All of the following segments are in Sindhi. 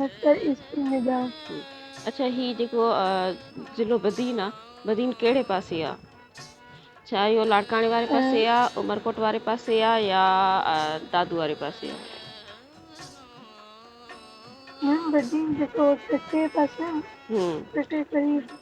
مڪر ايسٽ ميڊيا اڇا هي جيڪو ضلعو بدين آ بدين ڪهڙي پاسي آ ڇا اهو لاڙڪاڻي واري پاسي آ عمرڪوٽ واري پاسي آ يا دادو واري پاسي آ ميم بدين جيڪو ٺٽي پاسي آ ٺٽي قريب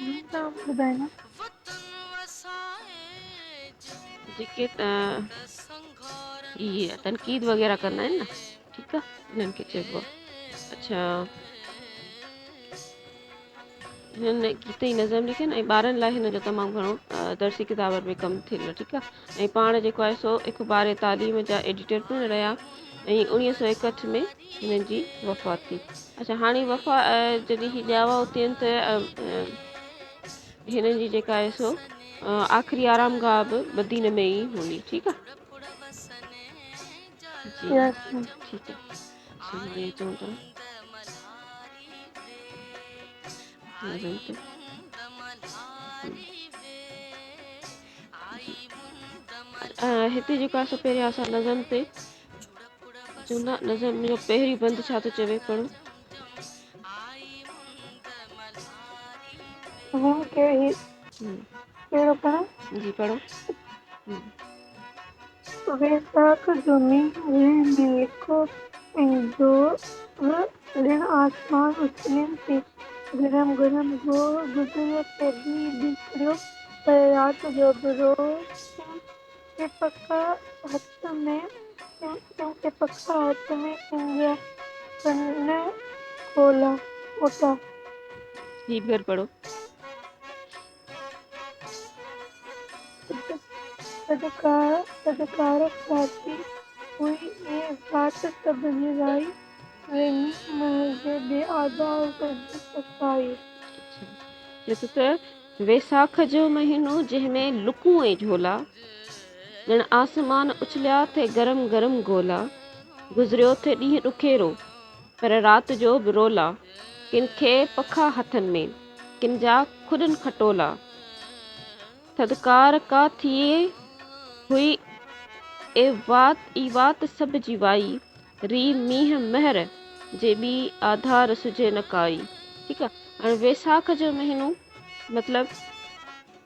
ٻيون ڪا ٻڌايو ها. جيڪي اهي تنقيد وغيره ڪندا آهن نه ٺيڪ آ انهن کي چئبو آ اڇا هن گيت جي نظم لکين ۽ ٻارن لاء هن جو تمام گهڻو درسي ڪتابن ۾ ڪم ٿيل آ ٺيڪ آ ۽ پاڻ جيڪو آهي سو اخبار تعليم جا ايڊيٽر پڻ رهيا ۽ اوڻيهه سؤ ايڪهٺ ۾ هنن جي وفات ٿي. اڇا هاڻي وفا جڏهن هي ڄاوا اتين ته هنن جي جيڪا آهي سو آخري آرام گاهه به مدينه ۾ ئي هوندي ٺيڪ آ جي ٺيڪ آ چون ٿا هتي جيڪو آهي سو پهريان اسان نظم تي چوندا نظم جو پهريون بند ڇا ٿو چوي پڙهو. هن کي هي ڪهڙو پڙهان. جي پڙهو. ويساک جمعي ويل ۾ لکو ۽ زور ڏيڻ آسمان اڇلين تي گرم گرم زور گذريو تي به بيڪڙيو پيو رات جو به روشن کي پکا هٿ ۾ ڪن کي پکا هٿ ۾ ڪن جا ڪن کولا کوٽا. هي به ڪر پڙهو. صدقارب ڀاتي هئي ۽ ڀات سڀ هيرائي، ويهي منهنجي بي آزار گرد ستائي. چيس ته ويساک جو مهينو جنهن ۾ لڪون ۽ جهولا، ڄڻ آسمان اڇليا ٿي گرم گرم گولا، گذريو ٿي ڏينهن ڏکيرو پر رات جو به رولا، ڪن کي پکا هٿن ۾. ڪن جا کڏن کٽولا. ٿڌڪار ڪا ٿئي هئي اي وات اي وات سڀ جي وائي ري مينهن مهر جي ٻي آڌار سجهي نه ڪائي ٺيڪ آ هاڻي ويساک جو مهينو مطلب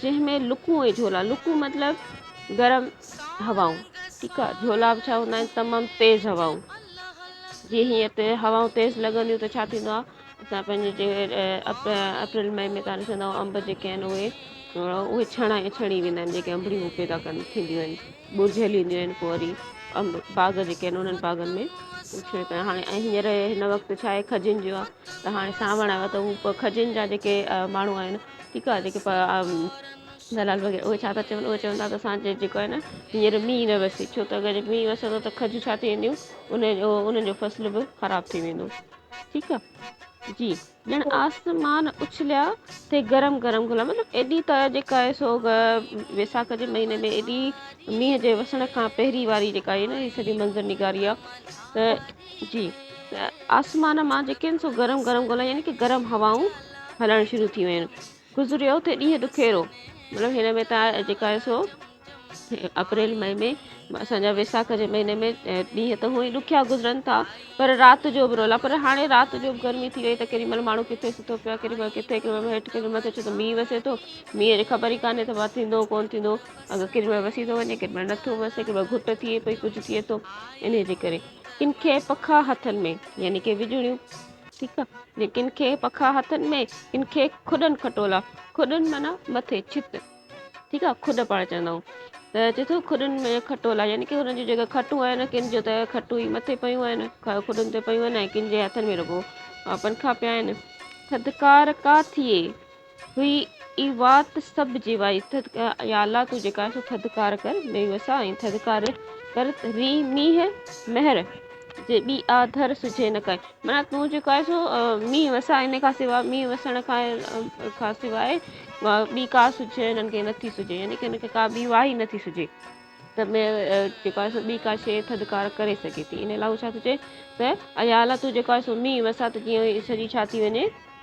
جنهن ۾ لڪون ۽ جهولا، لڪون مطلب گرم هوائون ٺيڪ آ جهولا به ڇا هوندا آهن تمام تيز هوائون جي هيئن تي هوائون تيز لڳنديون ته ڇا ٿيندو آ اسان پنهنجي جي اپريل مئي ۾ ڪا ڏسندا آهيون انب جيڪي آهن اهي اهي ڇڻا ۽ ڇڻي ويندا آهن جيڪي انبڙيون هو پيدا ڪن ٿينديون آهن ٻرجهل اينديون آهن پوء وري انب باغ جيڪي آهن انهن باغن ۾ ڇڻي ڪن هاڻي ۽ هينئر هن وقت ڇا آهي کجين جو آ ته هاڻي سانوڻ آيو آ ته هو کجين جا جيڪي ماڻهو آهن ٺيڪ آ جيڪي دلال وغيره اهي ڇا ٿا چون اهي چون ٿا ته اسانجي جيڪو آهي نه هينئر مينهن نه وسي ڇو ته اگر مينهن وسندو ته کجون ڇا ٿي وينديون ان جو انهن جو فصل به خراب ٿي ويندو ٺيڪ آ جي ڄڻ آسمان اڇليا تي گرم گرم گلا مطلب ايڏي ته جيڪا آهي سو ويساک جي مهيني ۾ ايڏي مينهن جي وسڻ کان پهرين واري جيڪا آهي نه هي سڄي منظر نگاري آ ته جي آسمان مان جيڪي آهن سو گرم گرم گولا يعني ڪي گرم هوائون هلڻ شروع ٿي ويون گذريو ٿي ڏينهن ڏکيرو مطلب هن ۾ تار جيڪا آهي سو اپريل مئي ۾ اسان جا ويساک جي مهيني ۾ ڏينهن ته هونئي ڏکيا گذرن ٿا پر رات جو به رولا پر هاڻي رات جو به گرمي ٿي وئي ته ڪيڏي مهل ماڻهو ڪٿي سٿو پيو ڪيڏي مهل ڪٿي ڪيڏي مهل هيٺ ڪيڏي مهل ٿو ته مينهن وسي ٿو مينهن جي خبر ئي ڪانه ته ٿيندو ڪون ٿيندو اگر ڪيڏي مهل وسي ٿو وڃي ڪيڏي مهل نٿو وسي ڪيڏي مهل گهٽ ٿئي پئي ڪجهه ٿئي ٿو انهي جي ڪري ڪن کي پکا هٿن ۾، يعني ڪي وڄوڻيون، ٺيڪ آ، جي ڪن کي پکا هٿن ۾، ڪن کي کڏن کٽولا، کڏن معنيٰ مٿي، ڇت، ٺيڪ آ، کڏ پاڻ چوندا آهيون، ته چي ٿو کڏن ۾ کٽولا، يعني ڪي هنن جون جيڪي کٽون آهن، ڪن جو ته کٽون ئي مٿي پيون آهن، کڏن تي پيون آهن، ۽ ڪن جي هٿن ۾ رڳو پنکا پيا آهن. ٿڌڪار ڪا ٿئي، هئي اي وات سڀ جي وائي ٿڌ ڪر يا الله تون جيڪا آهين سو ٿڌڪار ڪر بي وسا ۽ ٿڌڪار ڪر ري مينهن مهر جي ٻي آ ڌر سجهي نه ڪائي معنيٰ تون جيڪو آهي سو مينهن وسا ان کان سواء مينهن وسڻ کان کان سواء ٻي ڪا سجهي هنن کي نٿي سجهي يعني کي هن کي ڪا ٻي واهي نٿي سجهي ته ۾ جيڪو آهي سو ٻي ڪا شيء ٿڌڪار ڪري سگهي ٿي ان لاء هو ڇا ٿو چئي ته ايا الله تون جيڪو آهي سو مينهن وسا ته جيئن سڄي ڇا ٿي وڃي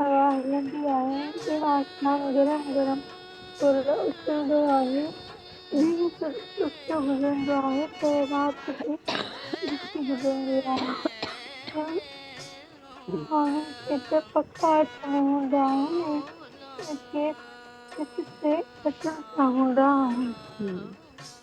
هوا هلندي آهي ۽ آسمان گرم گرم تر اترندو آهي ڏينهن سستو گذرندو آهي ته رات به سستي گذرندي آهي ماڻهن کي ته پک اچ ۾ هوندا آهن ۽ ڪن کي ڪٿي ڪٿي اچڻ سان هوندا آهن.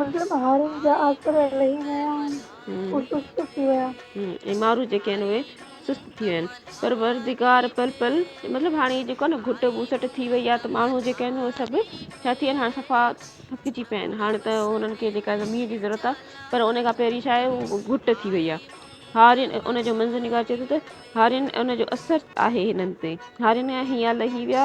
مطلب هارين جا آسر لهي ويا آهن هو سست ٿي ويا. ۽ مارو جيڪي آهن اهي سست ٿي ويا آهن. پروردگار پل پل مطلب هاڻي هي جيڪو آهي نه گهٽ ٻوسٽ ٿي وئي آهي ته ماڻهو جيڪي آهن اهي سڀ ڇا ٿي ويا آهن هاڻي صفا ٿڪجي پيا آهن هاڻي ته انهن کي جيڪا زمين جي ضرورت آهي پر ان کان پهرين ڇا آهي هو گهٽ ٿي وئي آهي هارين ان جو منظر نگار چئي ٿو ته هارين ان جو اثر آهي هنن تي هارين هيا لهي ويا.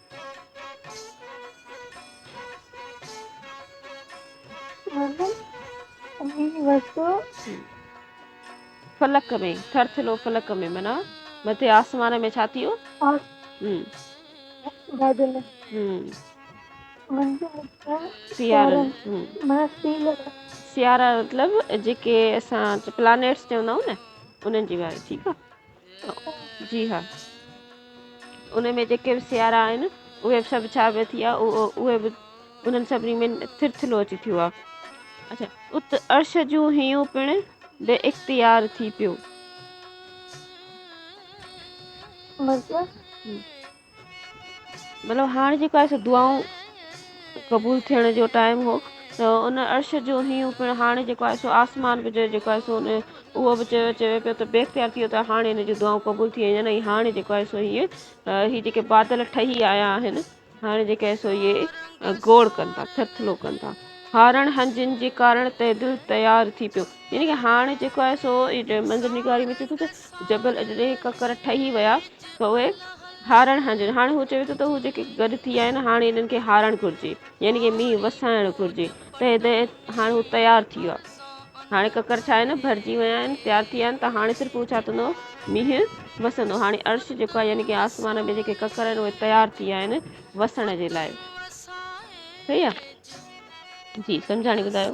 فلڪ ۾ ٿر ٿلو فلڪ ۾ منا مٿي آسمان ۾ ڇا ٿيو سيارا مطلب جيڪي اسان پلانيٽس چوندا آهيون نه انهن جي واري ٺيڪ آهي جي ها ان ۾ جيڪي به سيارا آهن اهي سڀ ڇا به ٿي اهو اهي به انهن سڀني ۾ ٿرٿلو اچي ٿيو آهي اچھا ات عرش جون هيون پڻ بي اختيار ٿي پيو مطلب مطلب هاڻ جيڪو آهي سو دعائون قبول ٿيڻ جو ٽائم هو ته ان عرش جو هيون پڻ هاڻي جيڪو آهي سو آسمان به جيڪو آهي سو ان اهو به چيو چيو پيو ته بي اختيار ٿي ويو ته هاڻي هن جون دعائون قبول ٿي ويون ۽ هاڻي جيڪو آهي سو هيء هي جيڪي بادل ٺهي آيا آهن هاڻي جيڪي آهي سو هي گوڙ ڪن ٿا ٿرٿلو ڪن ٿا هارڻ هنجن جي ڪارڻ تي دل تيار ٿي پيو يعني ڪي هاڻي جيڪو آهي سو منظر نگاري ۾ ٿي ٿو جبل اجري ڪڪر ٺهي ويا ته اهي هارڻ هنجن هاڻي هو چوي ٿو ته هو جيڪي گڏ ٿي آهن هاڻي انهن کي هارڻ گهرجي يعني ڪي مينهن وسائڻ گهرجي تنهن تي هاڻي هو تيار ٿي ويا هاڻي ڪڪر ڇا آهن ڀرجي ويا آهن تيار ٿي ويا آهن ته هاڻي صرف هو ڇا ٿيندو مينهن وسندو هاڻي عرش جيڪو آهي يعني ڪي آسمان ۾ جيڪي ڪڪر آهن اهي تيار ٿي ويا آهن وسڻ جي لاء صحيح آهي جي سمجهاڻي ٻڌايو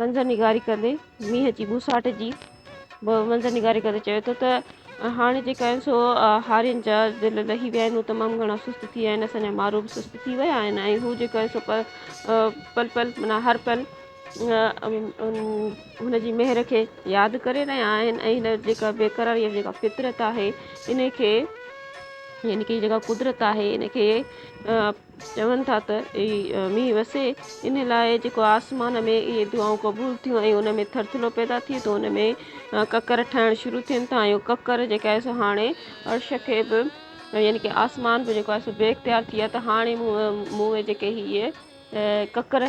منظرنگاري ڪندي مينهن جي ٻوساٽ جي به منظرنگاري ڪندي چيو ٿو ته هاڻي جيڪا آهن سو هارين جا دل لهي ويا آهن هو تمام گهڻا سست ٿي ويا آهن اسان جا مارو به سست ٿي ويا آهن ۽ هو جيڪو آهي سو پل پل منا هر پل هن جي مهر کي ياد ڪري رهيا آهن ۽ هن جيڪا بيقراري يا جيڪا فطرت آهي ان کي يعني ڪي جيڪا قدرت آهي ان کي چون ٿا ته اي مينهن وسي، ان لاء جيڪو آسمان ۾ اهي دعائون قبول ٿيون ۽ ان ۾ ٿرٿلو پيدا ٿئي ٿو، ان ۾ ڪڪر ٺهڻ شروع ٿين ٿا ۽ اهو ڪڪر جيڪا آهي سو هاڻي عرش کي به يعني ڪي آسمان به جيڪو آهي سو بي اختيار ٿي ويو آهي ته هاڻي مون ۾ جيڪي هي ڪڪر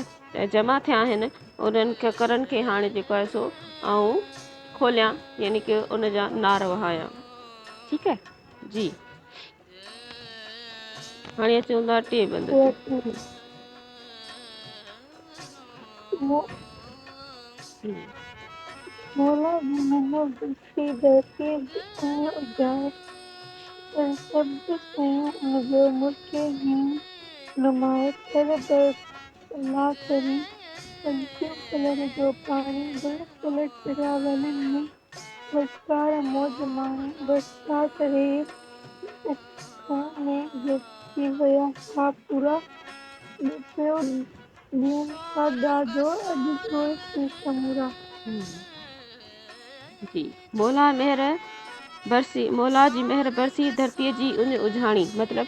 جمع ٿيا آهن انهن ڪڪرن کي هاڻي جيڪو آهي سو آئون کوليان يعني ڪي ان جا نار وهايان ٺيڪ آهي جي هاڻي اچون ٿا ٽئين بند تي. مولا محمد بخشي ڌرتيء ۽ اجائي ۽ سڀ شيون جو ملڪي هين نمائي ٿر بس الله ڪريم، پنچيون پلر جو پاڻي بلڪل ٽرياولن ۾ وچڪار موج ماڻي برسات ري اک ۾ ڊوبجي ويا ها پورا ٻپيو ڏين ٿا ڏاڍو اڄ ڊوئي ٿي سمورا. جي مولا مهر برسي مولا جي مهر برسي ڌرتي جي ان اجهاڻي مطلب.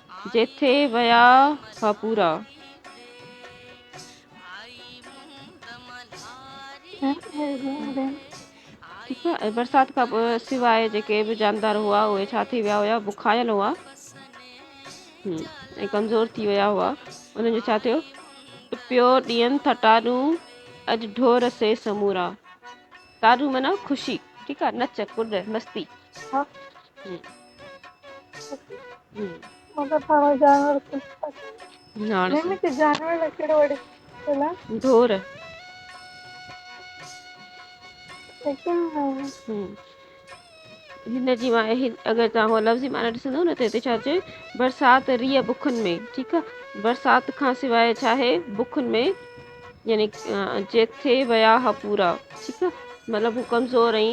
جيٿي ويا ها پورا. ٺيڪ آ ۽ برسات کان پوء سواء جيڪي به جاندار هئا اهي ڇا ٿي ويا هيا بکايل هئا ۽ ڪمزور ٿي ويا هئا انهن جو ڇا ٿيو ٽپيو ڏينهن ٿا ٽاڏون اڄ ڍور سي سمورا ٽاڏون معنيٰ خوشي ٺيڪ آ نچ ڪڏ مستي ها هاڻ سا ڍور هن جي اگر توهان لفظي معنيٰ ڏسندو نه ته هتي ڇا چيو برسات ريء بکن ۾ ٺيڪ آهي برسات کان سواء ڇا آهي بکن ۾ يعني چيڪ ٿئي ويا ها پورا ٺيڪ آ مطلب هو ڪمزور ۽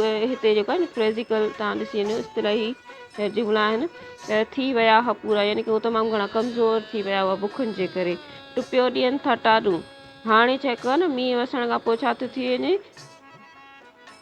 اهي هتي جيڪو آهي نه فريزيڪل تهان ڏسي وڃو اصطلاحي هي جملا آهن ته ٿي ويا ها پورا يعني ڪي هو تمام گهڻا ڪمزور ٿي ويا هئا بکن جي ڪري ٽپيو ڏين ٿا ٽاڏون هاڻي چيڪ ڪيو نه مينهن وسڻ کان پوء ڇا ٿو ٿي وڃي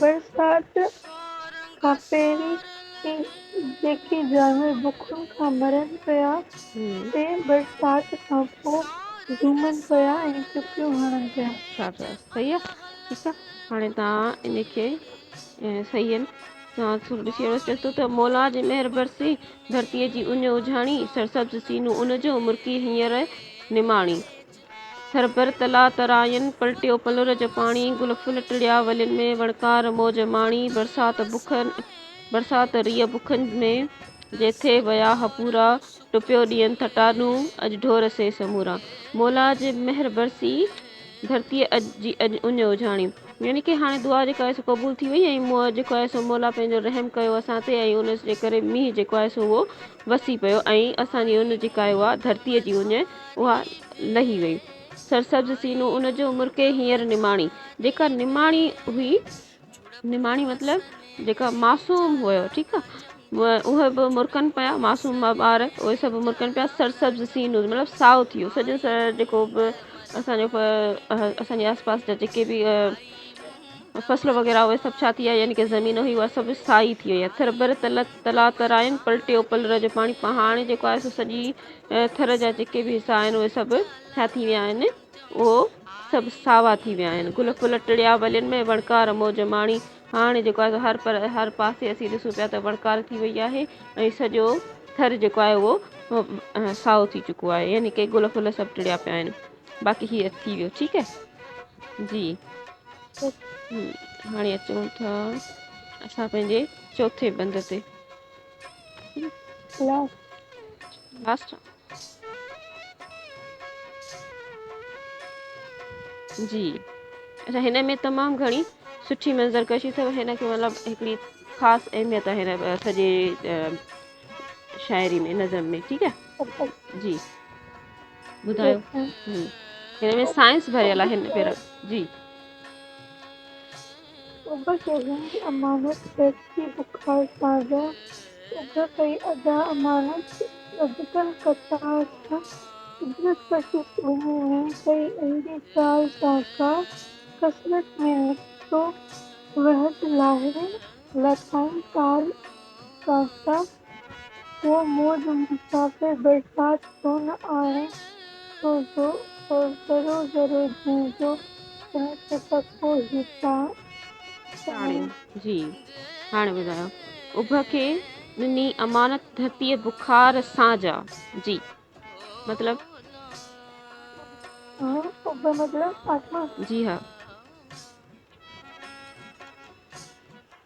برسات کان پهرين ئي جيڪي جانور بکن کان مرن پيا جي سي برسات کان پوء جومن پيا ۽ چڪيون هڻن پيا. ڇا ٿيو صحيح آ ٺيڪ آ هاڻي تان ان کي صحيح آهن تان سر ڏسي وڙس چيس ٿو ته مولا جي مهر برسي ڌرتيء جي اڃ اجهاڻي سرسبز سينو ان جو مرڪي هينئر نماڻي سربر تلاء تراين، پلٽيو پلر جو پاڻي، گل ڦل ٽڙيا ولين ۾، وڻڪار موج ماڻي، برسات بک برسات ريء بکن ۾، جي ٿي ويا هپورا، ٽپيو ڏينهن ٿٽا ڏون، اڄ ڍور سي سمورا. مولا جي مهر برسي، ڌرتيء جي اڄ اڃ اجهاڻي. يعني ڪه هاڻي دعا جيڪا آهي سو قبول ٿي وئي ۽ مون جيڪو آهي سو مولا پنهنجو رحم ڪيو اسان تي ۽ ان جي ڪري مينهن جيڪو آهي سو اهو وسي پيو ۽ اسان جي ان جي ڪاهي اها ڌرتيء جي اڃ اها لهي وئي سرسبز سينو ان جو مرڪي هينئر نماڻي جيڪا نماڻي هئي نماڻي مطلب جيڪا معصوم هيو ٺيڪ آ اهي به مرڪن پيا معصوم ٻار اهي سڀ مرڪن پيا سرسبز سينو مطلب سائو ٿيو سڄو سر جيڪو به اسان جو اسان جي آس پاس جا جيڪي به فصل وغيره اهي سڀ ڇا ٿي ويا يعني ڪا زمين هئي اها سڀ سائي ٿي وئي ٿر ڀر تلاتراين پلٽيو پلر جو پاڻي هاڻي جيڪو آهي سو سڄي ٿر جا جيڪي به حصا آهن اهي سڀ ڇا ٿي ويا آهن اهو سڀ ساوا ٿي ويا آهن گل ڦل ٽڙيا ولين ۾ وڻڪار موج ماڻي هاڻي جيڪو آهي هر پر هر پاسي اسين ڏسون پيا ته وڻڪار ٿي وئي آهي ۽ سڄو ٿر جيڪو آهي اهو سائو ٿي چڪو آهي يعني ڪي گل ڦل سڀ ٽڙيا پيا آهن باقي هي ٿي ويو ٺيڪ آهي جي هاڻي اچون ٿا اسان پنهنجي چوٿين بند تي لاسٽ جي اچا هن ۾ تمام گهڻي سٺي منظر ڪشي اٿو هن کي مطلب هڪڙي خاص اهميت آهي هن سڄي شاعري ۾ نظم ۾ ٺيڪ آهي جي ٻڌايو هن ۾ سائنس ڀريل آهي هن پير جي اڀ شهرين جي امانت پيٽ جي بخار سان به اڀ ڪئي ادا امانت ٻڌڪل قطار سان قدرت بخش ٻنهي ۾ ڪئي اهڙي چال سان ڪا قسمت ۾ نڪتو وهد لاهرين لاٿائين تال سان سا هو موج مسافر برسات ڪونه آهي سو جو ذرو ذرو جيئن جو تنهن کي تڪو هي تان تاڻي جي هاڻي ٻڌايو اڀ کي ڏني امانت ڌرتيء بخار سان جا جي مطلب ها اڀ مطلب آسمان جي ها.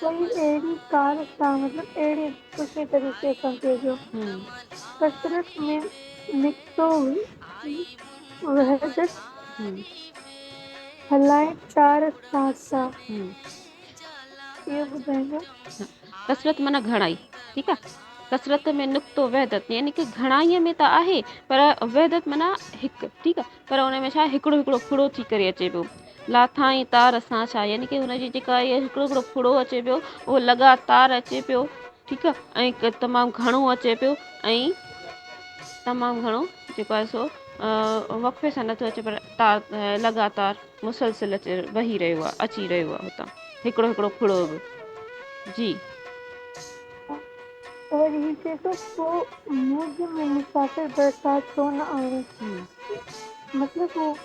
ڪئي اهڙي ڪار سان مطلب اهڙي سٺي طريقي سان ڪجو ڪسرت ۾ نڪتو وحدت هلائي چار ساسا اهو ٻڌائيندو ڪسرت معنيٰ گهڻائي ٺيڪ آ ڪسرت ۾ نقتو وحدت يعني ڪي گهڻائي ۾ ته آهي پر وحدت معنيٰ هڪ ٺيڪ آ پر ان ۾ ڇا هڪڙو هڪڙو ڦڙو ٿي ڪري اچي پيو لاٿائين تار سان ڇا يعني ڪي هن جي جيڪا هي هڪڙو هڪڙو ڦڙو اچي پيو اهو لڳاتار اچي پيو ٺيڪ آ ۽ تمام گهڻو اچي پيو ۽ تمام گهڻو جيڪو آهي سو وقفي سان نٿو اچي پر تار لڳاتار مسلسل اچي وهي رهيو آهي اچي رهيو آهي هتان هڪڙو هڪڙو ڦڙو به جي اور هي چئي ٿو پو موج ۾ مسافر برسات ڇو نه آڻي مطلب هو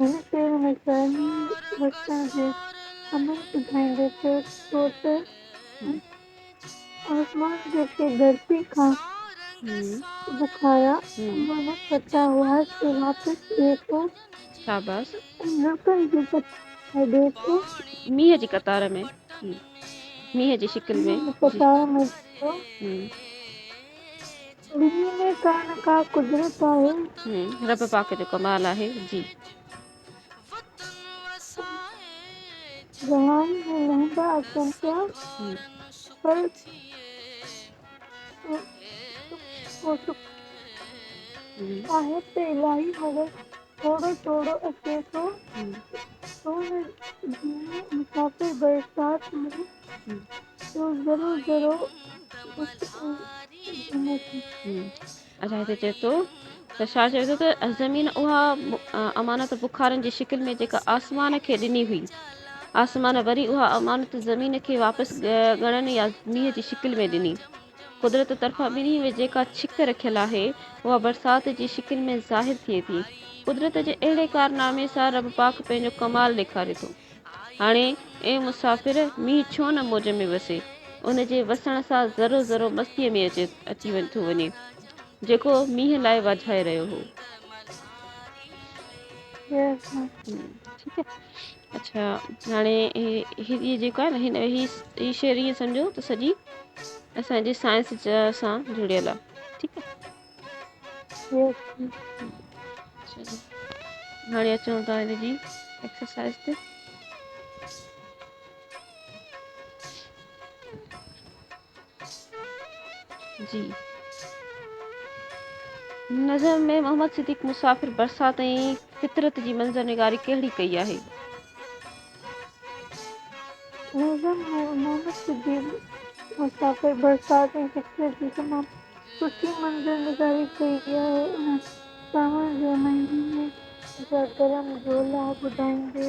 هن شعر ۾ قومي وسڻ جي امنگ ٻڌائيندي چيو ٿو ته آسمان جيڪي ڌرتي کان بکايا مان پتا هئا سي واپس ڏي ٿو. شاباس. نڪن جي پتن ۾ ڏي ٿو. مينهن جي قطار ۾ مينهن جي شڪل ۾. مينهن جي قطار ۾ ڏي ٿو. ٻنهي ۾ ڪا نه ڪا قدرت آهي. رب پاڪ جو ڪمال آهي جي. جهان ۾ لهندا اچن پيا پر سک آهي ته الاهي مگر ٿورو ٿورو اچي ٿو سون جيئن مسافر برسات ۾ تو ضرور ضرور الاء ڇا چئي ٿو ته ڇا چوي ٿو ته زمين اها امانت بخارن جي شڪل ۾ جيڪا آسمان کي ڏني هئي آسمان وري اها امانت زمين کي واپس ڳڻن يا مينهن جي شڪل ۾ ڏني قدرت طرفان ٻنهي ۾ جيڪا ڇڪ رکيل آهي، اها برسات جي شڪل ۾ ظاهر ٿئي ٿي. قدرت جي اهڙي ڪارنامي سان رب پاڪ پنهنجو ڪمال ڏيکاري ٿو. هاڻي، اي مسافر! مينهن ڇو نه موج ۾ وسي؟ ان جي وسڻ سان ذرو ذرو مستيء ۾ اچي ٿو وڃي، جيڪو مينهن لاء واجهائي رهيو هو. اچھا هاڻي هي هي جيڪو آهي نه هي هي هي شعر ائين سمجهو ته سڄي اسانجي سائنس جا سان جڙيل آ ٺيڪ آ اوڪي چلو هاڻي اچون ٿا هن جي ايڪسرسائز تي جي نظر ۾ محمد صديق مسافر برسات ۽ فطرت جي منظر نگاري ڪهڙي ڪئي آهي؟ نظر ۾ محمد صديق مسافر برسات ۽ فطرت جي تمام سٺي منظر نگاري ڪئي آهي ان ساوڻ جي مهيني جا گرم جولا ٻڌائيندي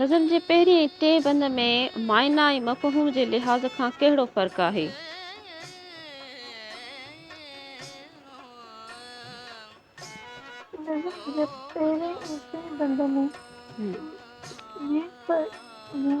نظم جي پهرين ۽ ٽئين بند ۾ معنيٰ ۽ مفهوم جي لحاظ کان ڪهڙو فرق آهي؟ نظم جي پهرين ۽ ٽئين بند ۾ معنيٰ ۽ مفهوم جي لحاظ کان ڪهڙو فرق آهي؟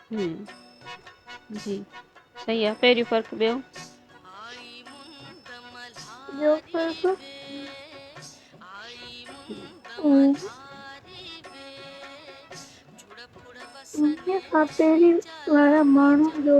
ھمم جي صحيح آ پهريون فرق ٻيو. ٻيو فرق ان کان پهرين وارا ماڻهن جو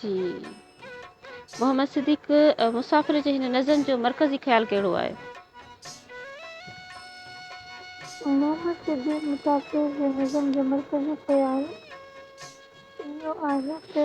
جي محمد صديق مسافر جي هن نظم جو مرڪزي خيال ڪهڙو آهي؟ محمد صديق مسافر جي نظم جو مرڪزي خيال اهو آهي ته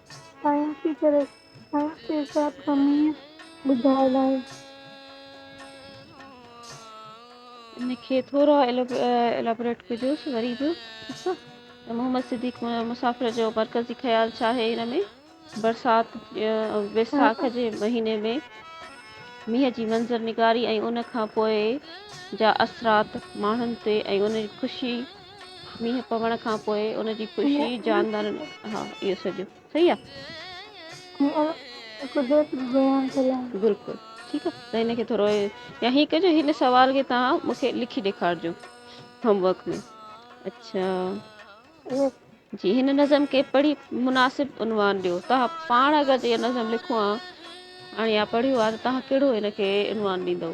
سائنسي طرح سائنس جي حساب سان مينهن ٻڌايل آهي. ان کي ٿورو ايلابريٽ ڪجوس وري به ته محمد صديق مسافر جو مرڪزي خيال ڇا آهي ان ۾؟ برسات ويساک جي مهيني ۾ مينهن جي منظر نگاري ۽ ان کان پوء جا اثرات ماڻهن تي ۽ انهن جي خوشي مينهن پوڻ کان پوء ان جي خوشي مينهن پوڻ کان جاندارن پوء ها اهو سڄو صحيح آ. قدرت به بيان ٿيل آهي. بلڪل ٺيڪ آ ته هن کي ٿورو يا هي ڪجو هن سوال کي توهان مون کي لکي ڏيکارجو هوم ورڪ ۾ اڇا اهو جي هن نظم کي پڙهي مناسب عنوان ڏيو توهان پاڻ اگر جي اها نظم لکو ها هاڻي يا پڙهيو آ ته توهان ڪهڙو هن کي عنوان ڏيندؤ.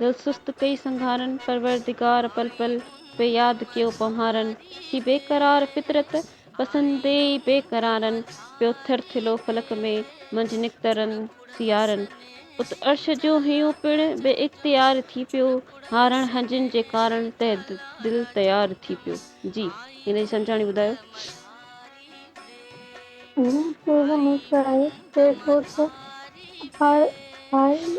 دل سست پئي سنگهارن، پروردگار پل پل پئي ياد ڪيو پنهارن، هي بيقرار فطرت پسندي بي قرارن، پيو ٿر ٿلو فلڪ ۾ منجهه نڪترن سيارن، ات عرش جو هيون پڻ بي اختيار ٿي پيو، هارڻ هنجن جي ڪارڻ تي دل تيار ٿي پيو. جي هن جي سمجهاڻي ٻڌايو. جي ڪو هن ڪرائي، چئبو ته هائي هائي.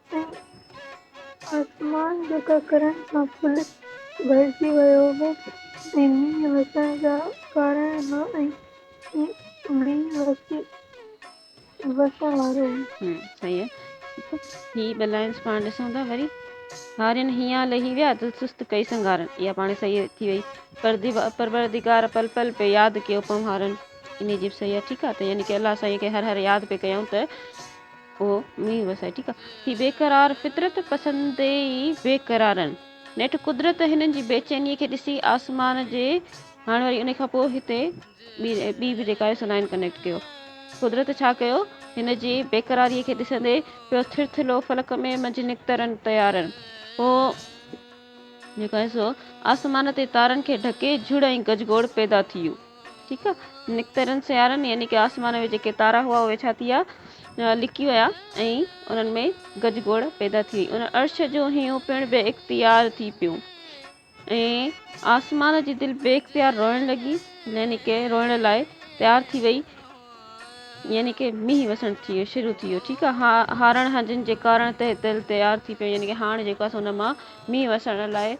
۽ آسمان جو ڪڪرن سان ڦل ڀرجي ويو هو ۽ مينهن وسڻ جا ڪارڻ هئا ۽ مينهن وسي وسڻ وارو هو. ها صحيح آهي هي بلائنس پاڻ ڏسون ٿا وري هارين هيان لهي ويا دل سست ڪئي سنگارن اها پاڻ صحيح ٿي وئي پروردگار پل پل پي ياد ڪيو پنهارن انهي جي به صحيح آهي ٺيڪ آهي ته يعني ڪي الله سائين کي هر هر ياد پي ڪيائون ته هي بيقرار فطرت پسند ئي بيقرارن نيٺ قدرت هنن جي بيچيني کي ڏسي آسمان جي هاڻ وري انهي کان پوء هتي ٻي به جيڪا آهي سو لائين ڪنيڪٽ ڪيو قدرت ڇا ڪيو هن جي بيقراري کي ڏسندي پيو ٿر ٿلهو فلڪ ۾ منجهه نڪترن طيارن پوء جيڪا آهي سو آسمان تي تارن کي ڍڪي جھڙ ۽ گجگوڙ پيدا ٿي يو. ٺيڪ آ نڪتارين سيارن يعني ڪي آسمان ۾ جيڪي تارا هئا اهي ڇا ٿيا لڪي ويا ۽ انهن ۾ گج گوڙ پيدا ٿي وئي ان عرش جو هيون پڻ بي اختيار ٿي پيو ۽ آسمان جي دل بي اختيار روئڻ لڳي يعني ڪي روئڻ لاء تيار ٿي وئي يعني ڪي مينهن وسڻ ٿي ويو شروع ٿي ويو ٺيڪ آ هارڻ هنجن جي ڪارڻ تي دل تيار ٿي پيو يعني ڪي هاڻ جيڪو اسان ان مان مينهن وسڻ لاء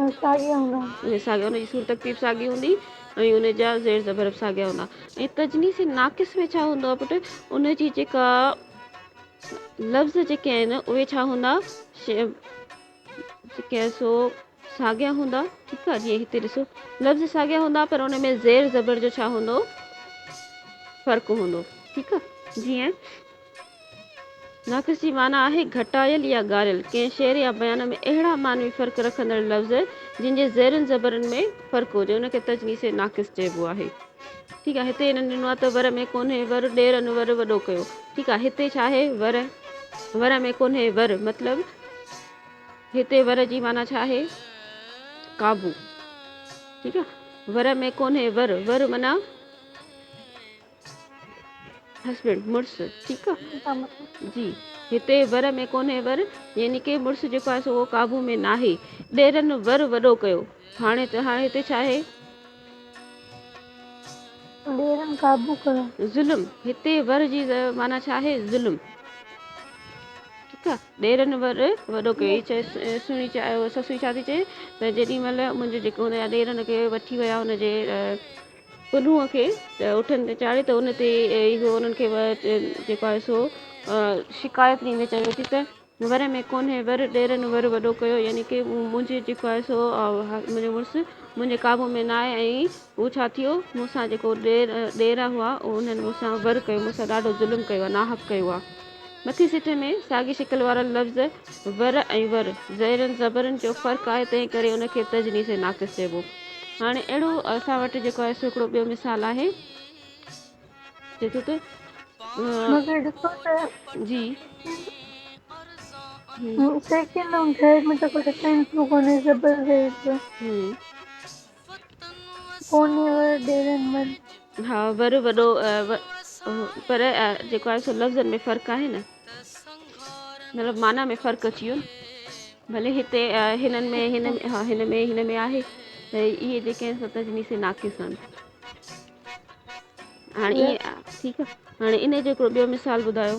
۽ ساڳيا ان جي سور ترتيب ساڳي هوندي ۽ ان جا زير زبر به ساڳيا هوندا ۽ تجنيس ناقص ۾ ڇا هوندو آهي پٽ ان جي جيڪا لفظ جيڪي آهن اهي ڇا هوندا جيڪي سو ساڳيا هوندا ٺيڪ آهي جيئن هتي ڏسو لفظ ساڳيا هوندا پر ان ۾ زير زبر جو ڇا هوندو فرق هوندو ٺيڪ آهي جيئن ناقص جي معنيٰ آهي گهٽايل يا ڳاريل. ڪنهن شعر يا بيان ۾ اهڙا معنوي فرق رکندڙ لفظ جن جي زيرن زبرن ۾ فرق هجي ان کي تجنيس ناقص چئبو آهي. ٺيڪ آهي هتي هنن ڏنو آهي ته ور ۾ ڪونهي ور ڏيرن ور وڏو ڪيو ٺيڪ آهي هتي ڇا آهي ور ور ۾ ڪونهي ور مطلب هتي ور جي معنيٰ ڇا آهي قابو ٺيڪ آهي ور ۾ ڪونهي ور ور معنيٰ هسبينڊ، مڙس، ٺيڪ آ. جي، هتي ور ۾ ڪونهي ور، يعني ڪي مڙس جيڪو آهي سو اهو قابو ۾ ناهي. ڏيرن، ور وڏو ڪيو. هاڻي ته هاڻي هتي ڇا آهي؟ ڏيرن، قابو ڪيو. ظلم، هتي ور جي معنيٰ ڇا آهي؟ ظلم. ٺيڪ آ. ڏيرن ور وڏو ڪيو. هي سهڻي چاهي، سسئي ڇا ٿي چئي ته جيڏي مهل منهنجو جيڪو هوندو يا ڏيرن کي وٺي ويا هن جي پنهونء کي اٺن تي چاڙهي ته ان تي اهو انهن کي جيڪو آهي سو شڪايت ڏيندي چوي ٿي ته ور ۾ ڪونهي ور ڏيرن ور وڏو ڪيو يعني ڪي منهنجي جيڪو آهي سو منهنجو مڙس منهنجي قابو ۾ ناهي ۽ هو ڇا ٿيو مون سان جيڪو ڏير ڏيرا هئا انهن مون سان ور ڪيو مون سان ڏاڍو ظلم ڪيو آهي ناحق ڪيو آهي مٿين سٽ ۾ ساڳي شڪل وارا لفظ ور ۽ ور زيرن زبرن جو فرق آهي تنهن ڪري ان کي تجنيس ناقص چئبو. هاڻي اهڙو اسان وٽ جيڪو آهي سو هڪڙو ٻيو مثال آهي. چئي ٿو ته مگر ڏسو ته جي سيڪينڊ ۽ ٿرڊ ۾ ته ڪو ڊفرنس به ڪونهي زبر زير جو. ڪونهي ور ڏيرن ور. ها ور وڏو پر جيڪو آهي سو لفظن ۾ فرق آهي نه مطلب معنيٰ ۾ فرق اچي ويو نه ڀلي هتي هنن ۾ هن ۾ ها هن ۾ هن ۾ آهي ته اهي جيڪي آهن سو تجنيسي ناقص آهن هاڻي ٺيڪ آهي هاڻي ان جو هڪڙو ٻيو مثال ٻڌايو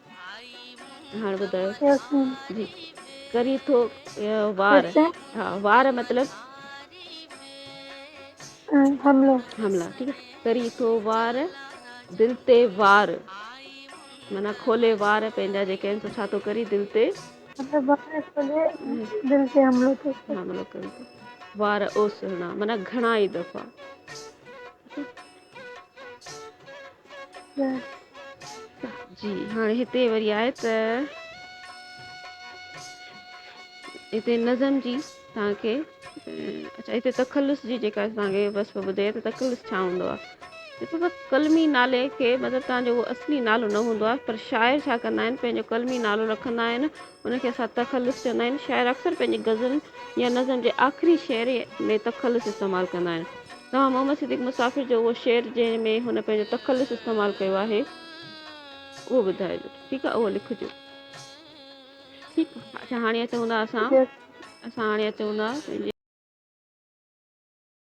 هاڻ ٻڌايو جي ڪري ٿو وار ها وار مطلب حملو حملا ٺيڪ آهي ڪري ٿو وار دل تي وار مانا کولي وار پنهنجا جيڪي آهن سو ڇا ٿو ڪري دل تي مطلب وار کولي دل تي حملو ٿو حملو ڪري ٿو وار او سهڻا مانا گهڻا ئي دفعا جي هاڻي هتي وري آهي ته هتي نظم جي تان کي اچھا هتي تخلص جي جيڪا تان کي وصف ٻڌي ته تخلص ڇا هوندو آهي هتي بس قلمي نالي کي مطلب تان جو اصلي نالو نه هوندو آهي پر شاعر ڇا ڪندا آهن پنهنجو قلمي نالو رکندا آهن ان کي اسان تخلص چوندا آهيون. شاعر اڪثر پنهنجي غزل يا نظم جي آخري شعر ۾ تخلص استعمال ڪندا آهن. توهان محمد صديق مسافر جو اهو شعر جنهن ۾ هن پنهنجو تخلص استعمال ڪيو آهي اهو ٻڌائجو ٺيڪ آهي اهو لکجو ٺيڪ اچا هاڻي اچون ٿا اسان اسان هاڻي اچون ٿا